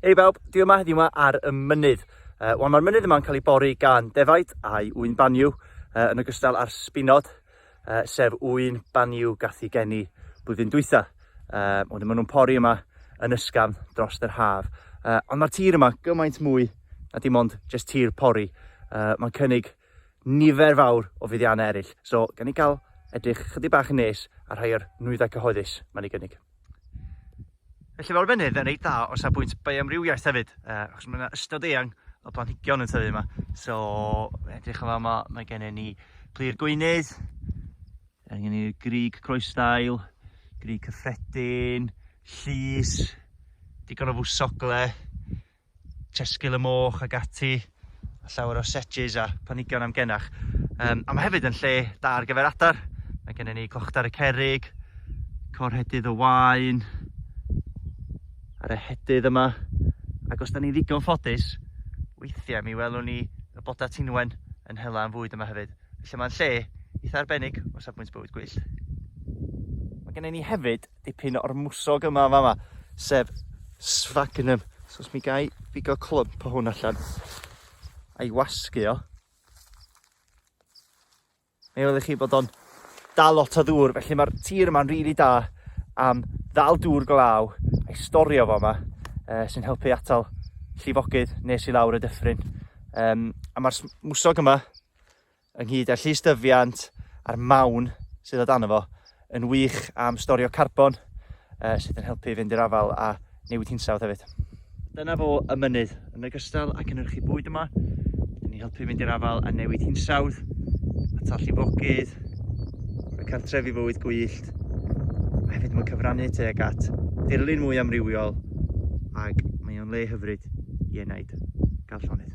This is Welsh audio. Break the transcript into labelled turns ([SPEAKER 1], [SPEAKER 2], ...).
[SPEAKER 1] Hei bawb, dwi yma heddiw yma ar y mynydd. Uh, Wel, mae'r mynydd yma'n cael ei bori gan defaid a'i ŵyn baniw, uh, yn ogystal â'r sbinod, uh, sef ŵyn baniw gath i geni blwyddyn dwytha. Uh, Wedyn maen nhw'n pori yma yn ysgafn dros yr haf. Uh, ond mae'r tir yma gymaint mwy na dim ond just tir pori. Uh, Mae'n cynnig nifer fawr o fuddiannau eraill. So, gan ni gael edrych chydig bach yn nes ar rhai o'r nwyddau cyhoeddus mae'n ei gynnig. Felly fel arbennydd yn reit dda o safbwynt bioamrywiaeth hefyd, uh, achos mae yna ystod eang o blanhigion yn tyfu yma. So, edrych yn fama, mae gennym ni plir gweinydd, mae gennym ni grig croesdail, grig cyffredin, llys, digon o fwsogle, Tesgil y moch ac ati, a llawer o sedges a planhigion amgenach. Um, a mae hefyd yn lle da ar gyfer adar. Mae gennym ni cochtar y cerig, corhedydd y wain, a'r ehedydd yma. Ac os da ni'n ddigon ffodus, weithiau mi welwn ni y boda tinwen yn hela yn fwyd yma hefyd. Felly mae'n lle eitha arbennig o safbwynt bywyd gwyllt. Mae gennym ni hefyd dipyn o'r mwsog yma yma, yma sef sfagnum. So os mi gai bigo clwmp o hwn allan a'i wasgu o, Mae wedi chi bod o'n dal lot o ddŵr, felly mae'r tir yma'n rili really da am ddal dŵr glaw a'i storio fo yma, uh, sy'n helpu atal llifogydd nes i lawr y dyffryn. Um, a mae'r mwsog yma ynghyd â'r llystyfiant a'r mawn sydd o dan fo, yn wych am storio carbon uh, sydd yn helpu i fynd i'r afal a newid hinsawdd hefyd. Dyna fo y mynydd, yn ogystal ac yn yrchu bwyd yma, yn ni helpu fynd i'r afal a newid hinsawdd, a tall llifogydd, rhoi cartref i fywyd gwyllt, a hefyd mae'n cyfrannu tuag at dirlun mwy amrywiol ac mae o'n le hyfryd i enaid. Gael llonydd.